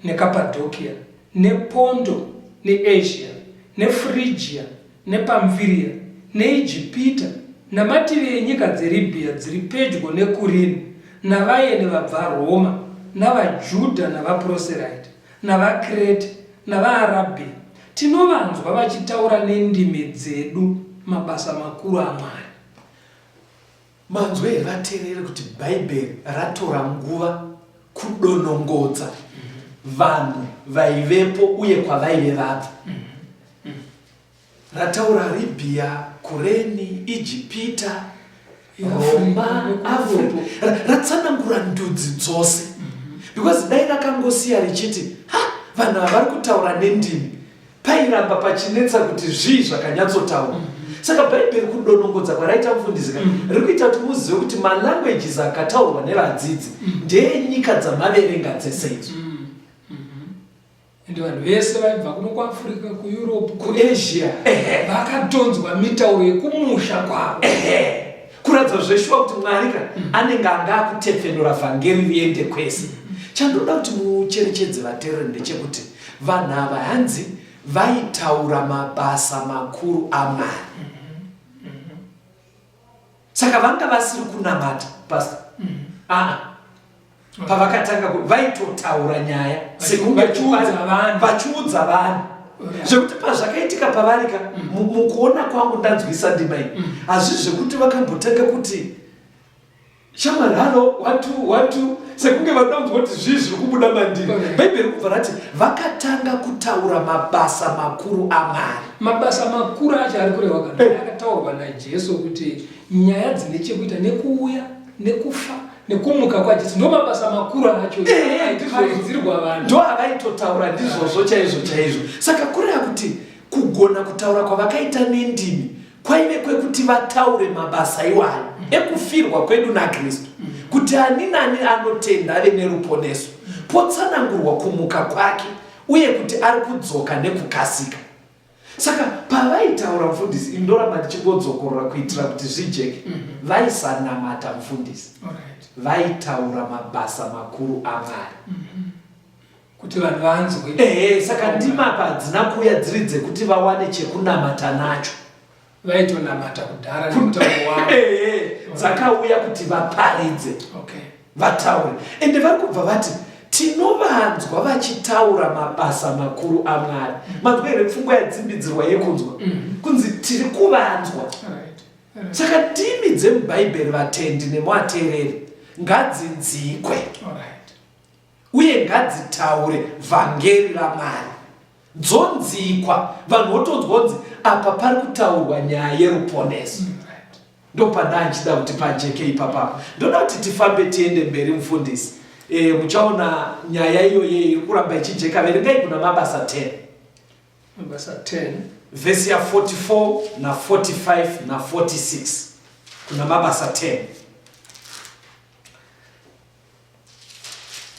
neKapadhokia nePondo neEzhia neFrigia nePamfiria, neIjipita, namativi enyika dzeRibhiya dziri pedyo neKurini, navaeni vabvaRoma, navaJudha navaProseraiti, navaKrete, navaArabhiya, tinovanzwa vachitaura nendimi dzedu mabasa makuru aMwari. Manzwa here vateereri kuti Bhaibheri ratora nguva kudonongodza vanhu vaivepo uye kwavaive vabva? Rataura Arabia, Kureni, Ijipita, Roma, Africa. Ra- Ratsanangura ndudzi dzose. Because dai rakangosiya richiti, ha, vanhu ava vari kutaura nendimi. Pairamba pachinetsa kuti zvii zvakanyatsotaurwa. Mm. Saka Bhaibheri kudonongodza kwaraita mufundisi ka mm. riri kuita kuti muzive kuti malanguages akataurwa nevadzidzi mm. ndeenyika dzamaverenga dzese idzo. Mm. Mm-hmm. Ende vanhu vese vaibva kuno kuAfrica, kuEurope, kuAsia vakatonzwa mitauro yekumusha kwavo. Kuratidza zveshuwa kuti Mwari ka mm. anenge anga akutepfenura vhangeri riende kwese. Chandoda kuti mucherechedze vatereri ndechekuti Vanhu ava hanzi vaitaura mabasa makuru aMwari. Saka vanga vasiri kunamata pastor. Ah. Pavakatanga ku- vaitotaura nyaya sekunge vachiudza kupari- vanhu. vachiudza vanhu Yeah. zvekuti pazvakaitika pavarika mu- mukuona kwangu ndanzwisa ndima iyi hazvisi zvekuti vakambotanga kuti Shamwari, halo, watu, watu, sekunge vanoda kunzwa kuti zvii zviri kubuda mandiri. Bhaibheri kubva rati vakatanga kutaura mabasa makuru aMwari. Mabasa makuru acho ari kureva kana Eh. akataurwa naJesu kuti nyaya dzine chekuita nekuuya, nekufa, nekumuka kwaJesu ndo mabasa makuru acho Ehe, ndizvozvo. aiparidzirwa vanhu. ndo avaitotaura ndizvozvo chaizvo chaizvo saka kureva kuti kugona kutaura kwavakaita nendimi kwaive kwekuti vataure mabasa iwayo mm. ekufirwa kwedu nakristu mm. kuti ani nani anotenda ave neruponeso mm. potsanangurwa kumuka kwake uye kuti ari kudzoka nekukasika saka pavaitaura mfundisi ini ndoramba ndichingodzokorora kuitira kuti zvijeke mhm. vaisanamata mfundisi vaitaura mabasa makuru amwari mm -hmm. kuti vanhu vanzwe ehe saka ndima apa hadzina kuuya dziri dzekuti vawane chekunamata nacho vaitonamata kudhara ehe dzakauya kuti vaparidze okay. vataure ende vari kubva vati tinovanzwa vachitaura mabasa makuru amwari mm. manzwa here pfungwa yadzimbidzirwa yekunzwa mm. kunzi tiri kuvanzwa saka ndimi dzemubhaibheri vatendi nemuateereri ngadzinzikwe uye ngadzitaure vhangeri ramwari dzonzikwa vanhu votonzwonzi apa pari kutaurwa nyaya yeruponeso mm ndopanda ndichida kuti pajeke ipapapa ndoda kuti tifambe tiende mberi mufundisi e, muchaona nyaya iyoyo iri kuramba ichijeka verengai kuna mabasa 10 mabasa 10 vhesi ya 44 na 45 na 46 kuna mabasa 10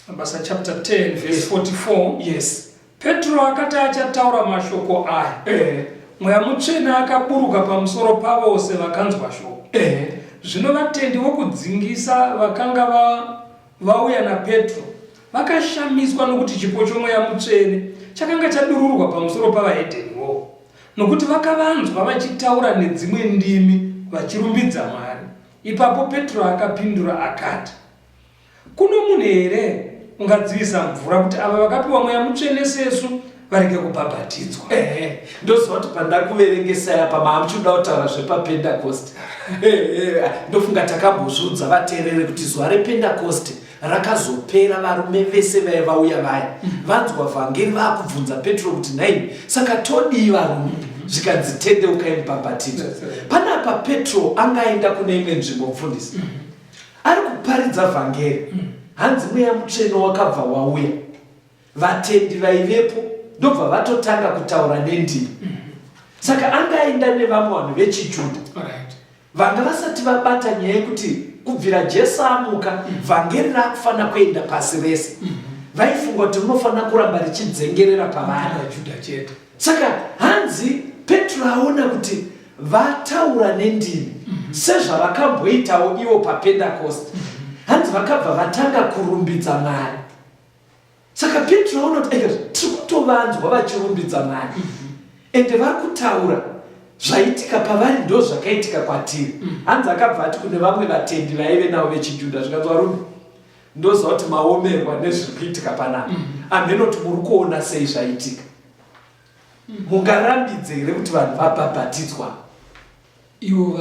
Mabasa chapter 10 verse 44. Yes. Petro akati achataura mashoko aya. Eh. Mweya mutsvene akaburuka pamusoro pavose vakanzwa shoko. Eh. Zvino vatendi vokudzingisa vakanga va vauya naPetro vakashamiswa nokuti chipo chomweya mutsvene chakanga chadururwa pamusoro pavahedheni wo nokuti vakavanzwa vachitaura nedzimwe ndimi vachirumbidza Mwari. Ipapo Petro akapindura akati, Kuno munhu here ungadzivisa mvura kuti ava vakapiwa mweya mutsvene sesu varege kubhabhatidzwa? Ehe, ndoziva kuti pandakuverengesai apa maamuchida kutaura zvepapendakosti. Ehe, ndofunga takambozviudza vateereri kuti zuva rependakosti rakazopera varume vese vaya vauya vaya mm-hmm. vanzwa vhangeri vakubvunza petro kuti nhaimi saka todii varume mm-hmm. zvikanzi tendeukai mubhabhatidza panapa petro anga aenda kune imwe nzvimbo mufundisi mm-hmm. ari kuparidza vhangeri hanzi mweya mutsvene wakabva wauya vatendi vaivepo ndobva vatotanga kutaura nendimi saka anga aenda nevamwe vanhu vechijuda vanga vasati vabata nyaya yekuti kubvira jesu amuka mm. vhangeri rakufanira kuenda pasi rese mm. vaifunga kuti rinofanira kuramba richidzengerera pavana juda chete saka hanzi petro aona kuti vataura nendimi mm-hmm. sezvavakamboitawo ivo papendakosti mm-hmm. hanzi vakabva vatanga kurumbidza mwari saka petro aona kuti aika tiri kutovanzwa vachirumbidza mwari mhm. ende vari kutaura zvaitika pavari ndo zvakaitika kwatiri mhm. hanzi akabva ati kune vamwe vatendi vaive navo vechijudha zvikanzi varume ndoziva kuti maomerwa nezviri kuitika panapa mhm. amheno kuti muri kuona sei zvaitika mungarambidze here kuti vanhu vabhabhatidzwa ivo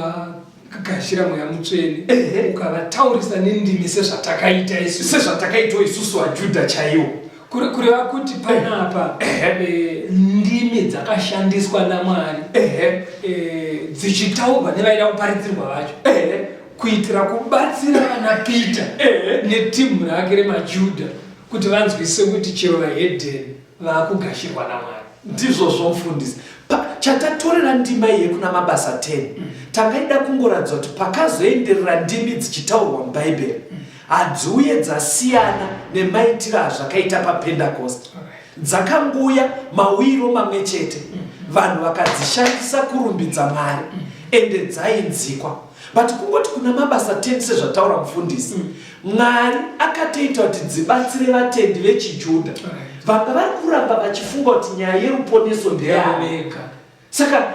vagashira mweya mutsvene ukavataurisa nendimi sezvatakaita isu sezvatakaitwa isusu vajudha chaiwo kuri kureva kuti panapa eh, ndimi dzakashandiswa namwari eh, dzichitaurwa nevaida kuparidzirwa vacho kuitira kubatsira vana peter netimu rake remajudha kuti vanzwise kuti chero vahedheni vakugashirwa namwari ndizvozvo mfundisi chatatorera ndima iye kuna mabasa 10 mm. tangaida kungoratidza kuti pakazoenderera ndimi dzichitaurwa mubhaibheri mm. hadziuye dzasiyana nemaitiro azvakaita papendakosti dzakanguya mawiro mamwe chete mm. vanhu vakadzishandisa kurumbidza mwari ende dzainzikwa but kungoti kuna mabasa 10 sezvataura mufundisi mm. mwari akatoita kuti dzibatsire vatendi vechijudha vanga vari kuramba vachifunga kuti nyaya yeruponeso ndeyavega saka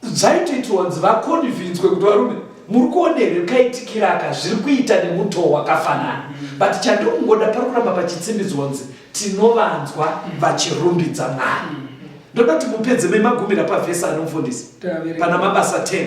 zvaitoitirwa kunzi vakonivhinzwe kuti varume muri kuona here kaitikiraka zviri kuita nemutoo wakafanana mm. but chandikungoda pari kuramba pachitsimbidzwa kunzi tinovanzwa mm. vachirumbidza mwari ndoda kuti mupedze memagumira pavhesi anomufundisi pana mabasa 10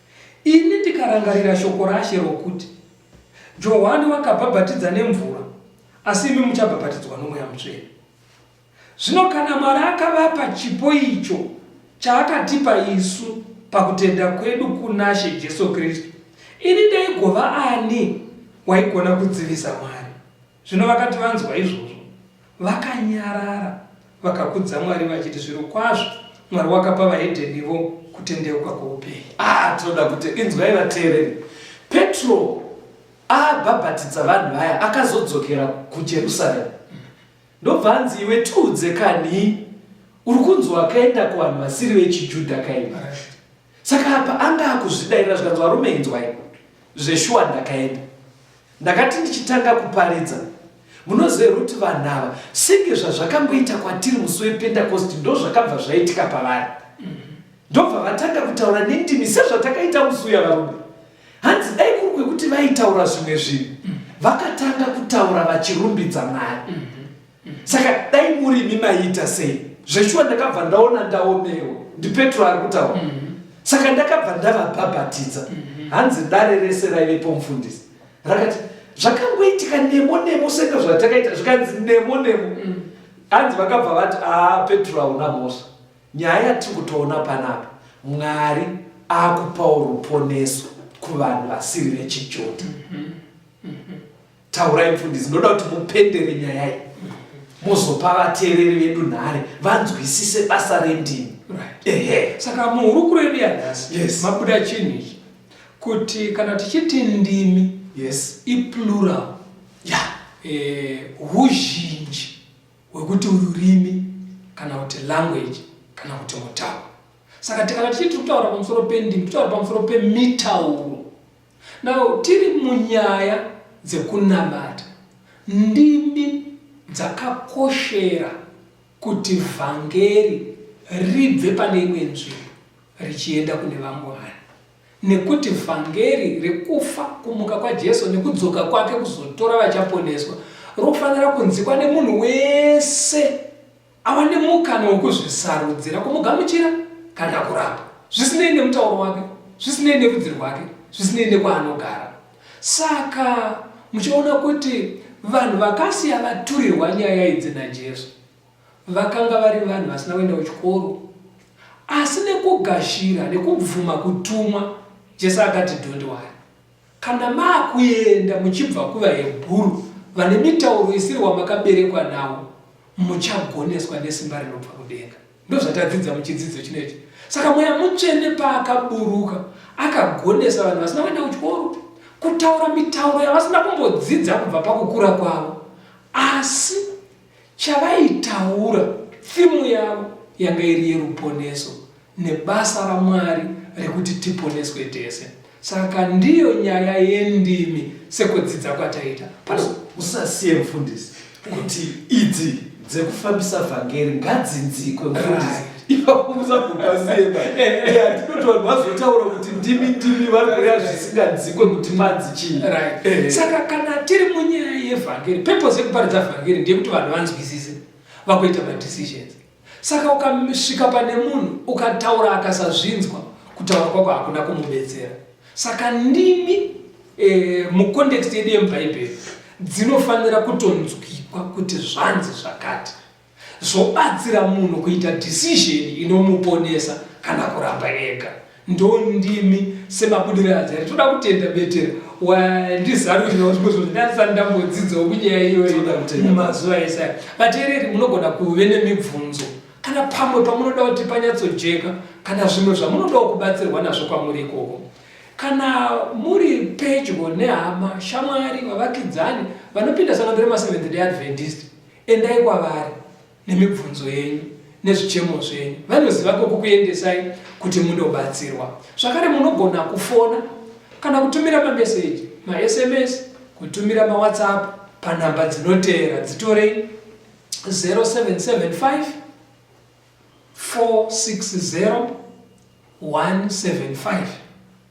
Ini ndikarangarira shoko raShe rokuti, Johwani wakabhabhatidza nemvura, asi imi muchabhabhatidzwa noMweya Mutsvene. Zvino kana Mwari akavapa chipo icho chaakatipa isu pakutenda kwedu kunaShe Jesu Kristu, ini ndaigova ani waigona kudzivisa Mwari? Zvino vakati vanzwa izvozvo, vakanyarara, vakakudza Mwari vachiti, Zvirokwazvo Mwari wakapa vahedhenivo kutendeuka kwoupenyu. Ah, tinoda kuti inzwai vateereri. Petro abhabhatidza vanhu vaya akazodzokera kuJerusaremu. Ndobva anzi iwe tiudze kani uri kunzi wakaenda kuvanhu vasiri vechijudha kaini saka apa anga akuzvidairira zvikanzi varume inzwai zveshuwa ndakaenda Ndakati ndichitanga kuparidza, Munoziva here kuti vanhu ava senge zvazvakangoita kwatiri musi wePentekosti ndozvakabva zvaitika pavari? Ndobva vatanga kutaura nendimi sezvatakaita musi uya varume. Hanzi dai kuri kwekuti vaitaura zvimwe zvinhu, vakatanga kutaura vachirumbidza Mwari. saka dai muri imi maiita sei zveshuwa ndakabva ndaona ndaomerwa ndipetro ari kutaura mm -hmm. saka ndakabva ndavabhabhatidza mm -hmm. hanzi dare rese raivepo mufundisi rakati zvakangoitika nemo nemo senge zvatakaita zvikanzi nemo nemo mm -hmm. hanzi vakabva vati aa petro hauna mhosva nyaya yatiri kutoona panapa mwari akupawo ruponeso kuvanhu vasiri vechijodha mm -hmm. Taurai mfundisi, ndoda kuti mupendere nyaya iyi mozopa vateereri vedu nhare vanzwisise basa rendimi. Right. Ehe. Saka muhurukuro yedu yanhasi Yes. mabuda chinhu ichi kuti kana tichiti ndimi Yes. iplural Yeah. eh, huzhinji hwekuti ururimi kana kuti language kana kuti mutauro saka tikana tichiti tiri kutaura pamusoro pendimi titaura pamusoro pemitauro Now tiri munyaya dzekunamata, ndimi dzakakoshera kuti vhangeri ribve pane imwe nzvimbo richienda kune vamwe vanhu, nekuti vhangeri rekufa, kumuka kwaJesu nekudzoka kwake kuzotora vachaponeswa rofanira kunzikwa nemunhu wese. Ava nemukana wekuzvisarudzira kumugamuchira kana kuramba, zvisinei nemutauro wake, zvisinei nerudzi rwake, zvisinei nekwaanogara. Saka muchiona kuti vanhu vakasiya vaturirwa nyaya idzi naJesu vakanga vari vanhu vasina kuenda kuchikoro, asi nekugashira nekubvuma kutumwa, Jesu akati, Don't worry, Kana maakuenda muchibva kuvahebhuru vane mitauro isiri wamakaberekwa nawo, muchagoneswa nesimba rinobva kudenga. Ndozvatadzidza muchidzidzo chino ichi. Saka mweya mutsvene paakaburuka akagonesa vanhu vasina kuenda kuchikoro kutaura mitauro yavasina kumbodzidza kubva pakukura kwavo, asi Chavaitaura, thimu yavo yanga iri yeruponeso nebasa raMwari rekuti tiponeswe tese. Saka ndiyo nyaya yendimi sekudzidza kwataita pano. Usasiye mfundisi kuti idzi dzekufambisa vhangeri ngadzinzikwe mfundisi. Right. ipapo musagopasiyeba atinotoa vazotaura kuti ndimi ndimi vari kurea zvisingadzikwe kuti madzi chii saka kana tiri munyaya yevhangeri purpose yekuparidza vhangeri ndeyekuti vanhu vanzwisise vakuita madecisions saka ukasvika pane munhu ukataura akasazvinzwa kutaura kwako hakuna kumubetsera saka ndimi eh, mucontext yedu yemubhaibheri dzinofanira kutonzwikwa kuti zvanzi zvakati Zvobatsira munhu kuita decision inomuponesa kana kuramba ega. Ndondimi semabudiriro aZari. Toda kutenda Betera wandizarurirawo zvimwe zvinhu zvandisati ndambodzidzawo kunyaya iyoyo mumazuva ese aya. Vateereri munogona kuve nemibvunzo kana pamwe pamunoda kuti panyatsojeka kana zvimwe zvamunodawo kubatsirwa nazvo kwamuri ikoko. Kana muri pedyo nehama, shamwari, vavakidzani vanopinda sangano remaSeventh Day Adventist, Endai kwavari nemibvunzo yenyu nezvichemo zvenyu, vanoziva kwokukuendesai kuti munobatsirwa. Zvakare munogona kufona kana kutumira mameseji, maSMS, kutumira maWhatsApp panhamba dzinoteera, dzitorei 0775 460 175.